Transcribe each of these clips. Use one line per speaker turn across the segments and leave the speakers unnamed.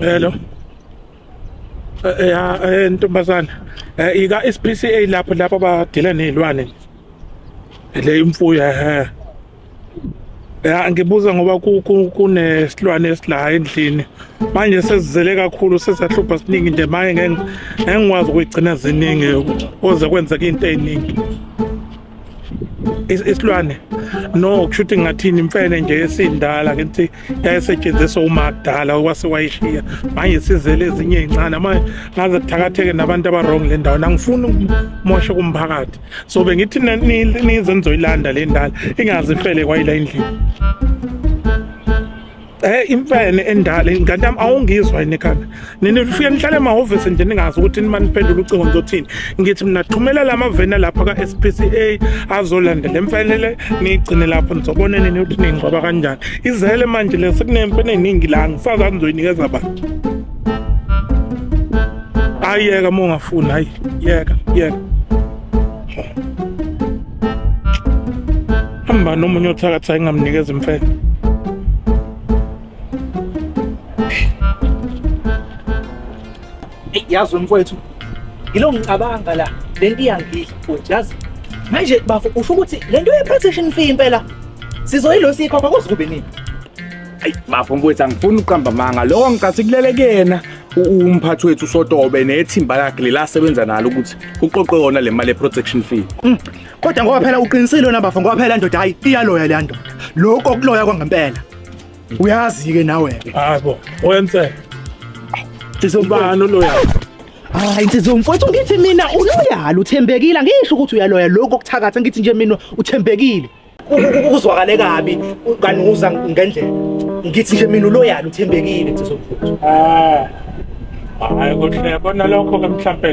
Hello. Eh, eh, ya eh, ntombazana. Eh ika SPCA lapho lapho badila nezilwane. Le imfuyo eh. Ya ngibuza ngoba kunesilwane esilaha endlini. Manje sesizele kakhulu sesahlupha siningi nje manje ngeke ngikwazi ukugcina ziningi oze kwenzeka into eziningi. isilwane no kusho ukuthi ngathini imfene nje esindala ke ukuthi yayisetshenziswa umakudala okwase wayishiya manje sizele ezinye ezincane manje ngaze kuthakatheke nabantu abarong le ndawo angifuni ukumosha kumphakathi so bengithi nize nizoyilanda le ndala ingazifele kwayila endlini Eh imfene endala kanti am awungizwa yini ekhanda. Nini ufike nihlale emahhovisi nje ningazi ukuthi nima niphendula ucingo ngizothini. Ngithi mina thumela lama vena lapha ka SPCA azolanda lemfene le nigcine lapho nizobona nini ukuthi ningcwaba kanjani. Izele manje le sekunemfene eningi la ngisaza nizoyinikeza abantu. Ayeka mongafuni hayi yeka yeka. hamba nomunye othakatha engamnikeza imfene
yazi mfowethu yilo ngicabanga la le nto iyangidla futhi yazi manje bafo usho ukuthi le nto ye-protection fee impela sizoyilo siyikhokha kuze kube nini ayi
bafo mfowethu angifuni uqamba manga lokho ngicathi kulele kuyena umphathi wethu usotobe nethimba lakhe lelasebenza nalo ukuthi kuqoqwe yona le mali ye-protection fee mm. kodwa ngoba
phela uqinisile wena bafo ngoba phela ndoda hayi iyaloya le nto lokho okuloya kwangempela uyazi-ke nawe hayibo
oyensela
ubani oloya hayi nsizwa mfowethu ngithi mina uloyala uthembekile angisho ukuthi uyaloya lokho okuthakatha ngithi nje mina uthembekile kuzwakale kabi kanuza ngendlela ngithi nje mina uloyalo uthembekile kusesokuthi
ah hayi kuhle bona lokho ke mhlawumbe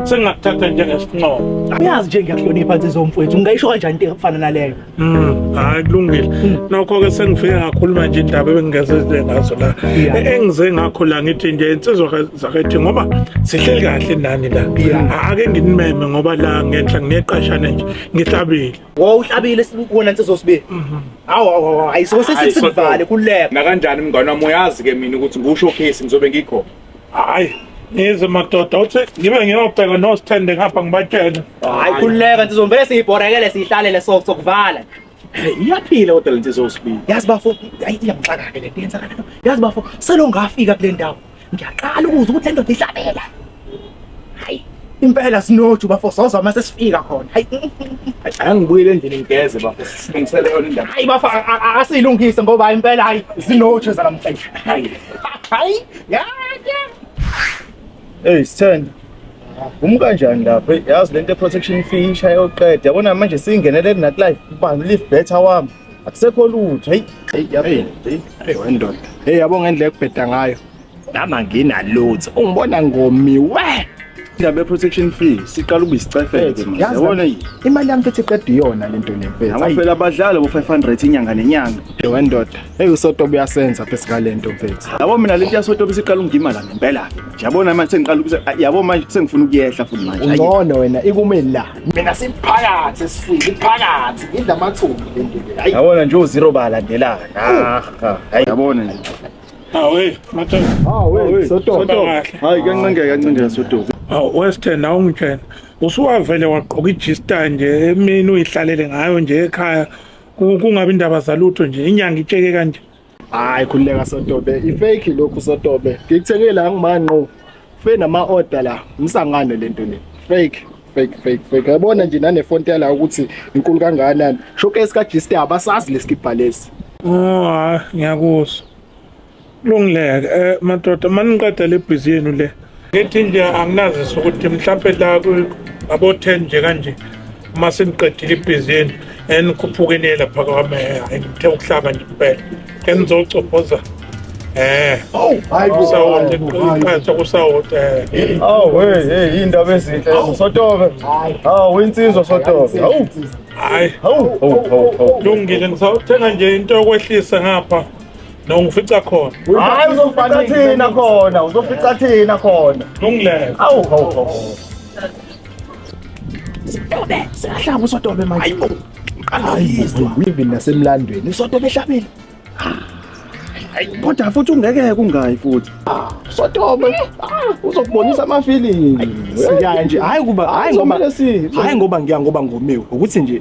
sengakuthatha njengesinqobo uyazi nje ngiyakuhlonipha
nsizwa mfowethu ngingayisho kanjani into efana naleyo mm hayi
kulungile hmm. nokho ke sengifike ngakhuluma nje indaba ebengingeze ngazo la e-, engize ngakho la ngithi nje insizwa zakhethi ngoba sihleli kahle nani la ake nginimeme ngoba la ngenhla ngineqashane nje ngihlabile Wo uhlabile
sibona insizwa sibe. Mhm. Awu awu ayisho sesivale kuleka. Nakanjani mngane wami
uyazi ke mina ukuthi ngisho case ngizobe ngikho. Hayi.
Yize madoda uthi ngibe ngiyobheka no stand ngapha ngibatshele. Hayi kuleka
insizwa vele siyibhorekele sihlalele so sokuvala. iyaphila
kodwa le nsizwa osibili yazi bafo
iyamxaka-ke le nto yenzakalayo yazi bafo selongafika kule ndawo Ngiyaqala ukuzwa ukuthi le ndoda ihlabela. Hayi, impela sinoju bafo soza uma sesifika khona. Hayi, Angibuyele
endlini ngigeze bafo silungisele yona indaba. hayi bafo a- a- a-
asilungise ngoba impela hayi zinoju zanamhlanje. Hayi. Hayi,
ya ya. Hey Sithende. Uma kanjani lapho? Yazi lento protection fee ishaya oqeda. Yabona manje singenelele nakulife. Ubani live better wami. akusekho lutho hey hey yaphela hey hey wendoda
hey yabo ngendlela ekubheda ngayo nami anginalutho ungibona ngomiwe indaba ye-protection fee siqala ukuba isicefeke manje Yazi yabona nami, imali yami futhi iqeda
iyona le nto nemfethu Ayi, phela abadlali bo-500
inyanga nenyanga hey wendoda
hey usoto buyasenza phezu ngale nto mfethu yabo mina le nto yasotobe
siqala ungima la ngempela-ke nje yabona manje sengiqala ukuse- yabo manje sengifuna ukuyehla futhi manje Ayi. ungcono wena ikumeni
la mina siphakathi
esifiki phakathi ngidla amathumbu le ndoda hayi yabona nje uzero
balandelana ah, ah,
hayi yabona nje hawe
mathe hawe soto
hayi kancengeka
kancengeka soto hawu wesithenda
awungitshena usuwavele wagqoka ijista nje emini uyihlalele ngayo nje ekhaya kungabi indaba zalutho nje inyanga itsheke kanje hayi khululeka
sotobe ifake lokhu sotobe ngikuthenge la ngimanqo fe nama order la msangane lento le fake fake fake fake yabona nje nane font yala ukuthi inkulu kangakanani showcase ka G Star abasazi lesikibha lesi ah
ngiyakuzwa kulungileke eh madoda maniqeda le busy yenu le Ngithi nje anginazisa ukuthi mhlawumbe la abo-ten nje kanje uma seniqedile ibhizinisi enikhuphukene lapha kwami hayi ngithe ukuhlaba nje kuphela engizocophoza Eh.
Oh, hayi kusawoti
iqhaso kusawoti. Eh. Aw
hey hey indaba ezinhle oh. sotobe. Hawu insizwa sotobe. Hawu. Hayi.
Hawu.
Lungile ngisawuthenga
nje into yokwehlisa ngapha. No ngifica khona. Hayi uzofica
thina khona, uzofica thina khona. Lungile. Awu hawu hawu.
Sotobe, siyahlaba usotobe manje. Hayibo. Qalayizwa. Wivi
nasemlandweni. Usotobe ehlabile.
Kodwa futhi ungeke kungayi futhi. Sotobe.
Uzokubonisa ama feeling. Siyaye nje.
Hayi kuba hayi ngoba hayi ngoba ngiya ngoba ngomiwe. Ukuthi nje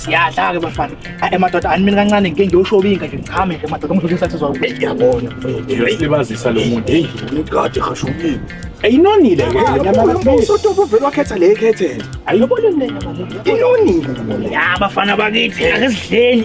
siyadla-ke bafana ayi madoda ani mina kancane ngike ngiyoshovinga nje ngichame nje madoda umdlula isathizwa uyabona uyalibazisa
lo muntu heyi ngigade hashukile ayinonile
usotopo vele wakhetha le
ekhethele ayibona mina
inonile ya
bafana
bakithi akesidleni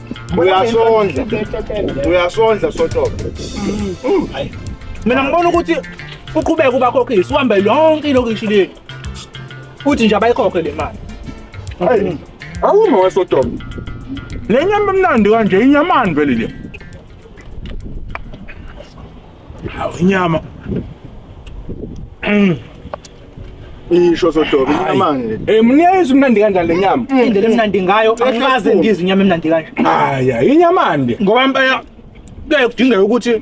uyasondla uyasondla sotobe mm. mina
ngibona ukuthi uqhubeke ubakhokhile siwambe yonke ilokishi lethu futhi nje abayikhokhe le mali mm.
awume wesotobe le nyama emnandi kanje inyamani vele le
Hawu inyama.
Mm. Isho sodobi inamani. Eh mniyayizwa imnandi kanjani le
nyama? Mm. Indlela emnandi ngayo
angikaze ngizwe inyama emnandi kanje. Haya inyamande.
Ngoba impela
kuyaye kudingeka ukuthi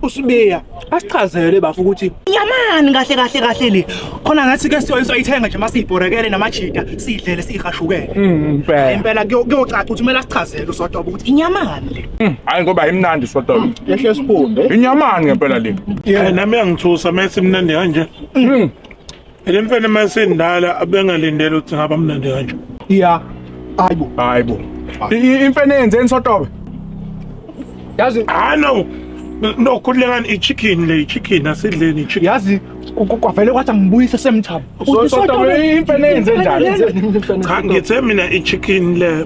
usibiya asichazele bafu ukuthi nyamani kahle kahle kahle le khona ngathi ke siyoyiswa ayithenga nje masiyibhorekele namajita sidlele sihashukele mm, impela impela
kuyocaca
ukuthi kumele asichazele usodwa ukuthi inyamani le Mm, hayi ngoba imnandi
soda yehle siphunde
inyamani ngempela le
yeah nami yangithusa
mase mnandi kanje mm. le mfene mase ndala abengalindele ukuthi ngaba mnandi kanje yeah
hayibo
hayibo imfene yenzeni sotobe
yazi ah no
no khulekani i-chicken le i-chicken asidleni i-chicken yazi
kwavele kwathi angibuyise semthabo
imfene yenze njani ngithe
mina i-chicken le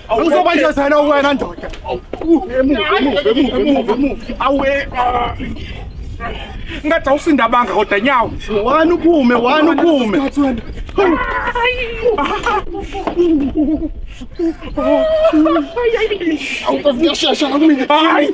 Angizokwenzela wena ndoda. Awe.
Ngathi awusinda banga kodwa nyawo. Wani uphume,
wani uphume.
Awukavuya shasha
kumina. Hayi.